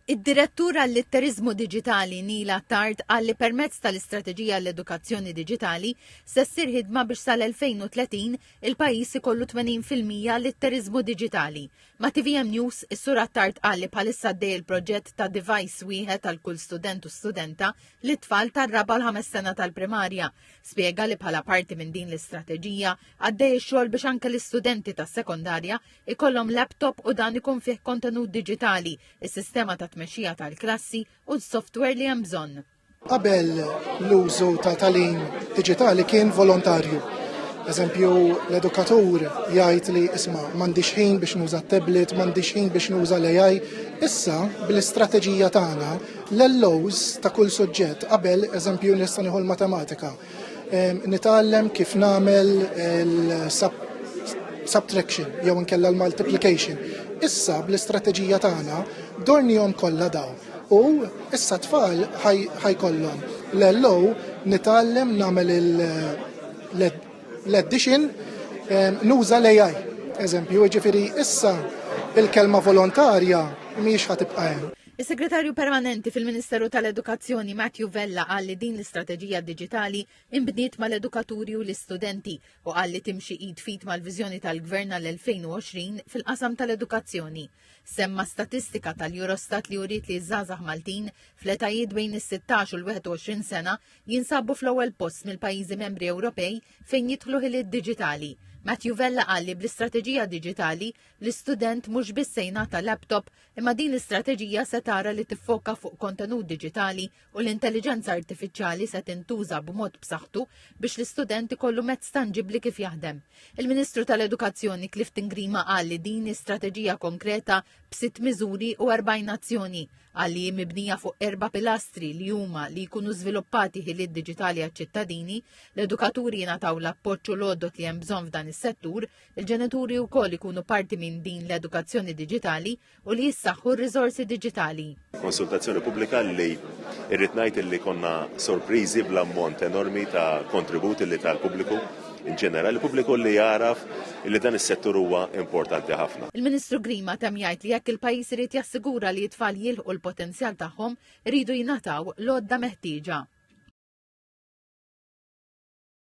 Id-Direttur għall-Litteriżmu Diġitali Neil Attard qal li permezz tal-Istrateġija għall-Edukazzjoni Diġitali se ssir ħidma biex sal-2030 il-pajjiż ikollu 80 fil-mija litteriżmu diġitali. Ma' tvm News, is-Sur Attard qal li bħalissa għaddej il-proġett ta' device wieħed għal kull student u studenta lit-tfal tar-raba' u l-ħames sena tal-primarja. Spjega li bħala parti minn din l-istrateġija għaddej ix-xogħol biex anke l-istudenti tas-sekondarja ikollhom laptop u dan ikun fih kontenut diġitali, is-sistema ta' tmexxija tal-klassi u s-software li hemm bżonn. Qabel l-użu ta' talim diġitali kien volontarju. Eżempju, l-edukatur jgħid li isma' m'għandix ħin biex nuża t-tablet, m'għandix ħin biex nuża l-AI. Issa, bl-istrateġija tagħna, l-LOs ta' kull suġġett qabel, eżempju, nista' nieħu l-matematika. Nitgħallem kif nagħmel il-subtraction jew inkella l-multiplication. Issa bl-istrateġija tagħna dornihom kollha daw. U issa tfal ħajkollhom l-LO nitgħallem nagħmel l-addition nuża l-AI. Eżempju, ġifieri issa il-kelma volontarja mhijiex ħatibqa' hemm. Is-Segretarju Permanenti fil-Ministeru tal-Edukazzjoni Matthew Vella qal li din l-istrateġija diġitali inbniet mal-edukaturi u l-istudenti u qal li timxi id fit mal-viżjoni tal-Gvern għall-2020 fil-qasam tal-edukazzjoni. Semma statistika tal-Eurostat li uriet li ż-żgħażagħ Maltin fl-etajiet bejn is-16 u l-21 sena jinsabu fl-ewwel post mill-pajjiżi membri Ewropej fejn jidħlu ħiliet diġitali Matthew Vella qal li bl-istrateġija diġitali l-istudent mhux biss se jingħata laptop Imma din l-istrateġija se tara li tiffoka fuq kontenut diġitali u l-intelliġenza artifiċjali se tintuża b'mod b'saħħtu biex l-istudent ikollu mezz tanġibbli kif jaħdem. Il-Ministru tal-Edukazzjoni Clifton Grima qal li din strateġija konkreta b'sitt miżuri u 40 azzjoni għalli hi mibnija fuq erba' pilastri li huma li jkunu żviluppati ħiliet diġitali għaċ-ċittadini, l-edukaturi jingħataw l-appoġġ u l-għodod li hemm bżonn f'dan is-settur, Il-ġenituri wkoll ikunu parti minn din l-edukazzjoni diġitali u li jissaħħu r-riżorsi diġitali. Konsultazzjoni pubblika li irrid ngħid li konna sorpriżi bl-ammont enormi ta' kontributi li tal-pubbliku in ġenerali pubbliku li jaraf li dan is-settur huwa importanti ħafna. Il-Ministru Grima tem jgħid li jekk il-pajjiż irid jassigura li t-tfal jilħqu l-potenzjal tagħhom, iridu jingħataw l-għodda meħtieġa.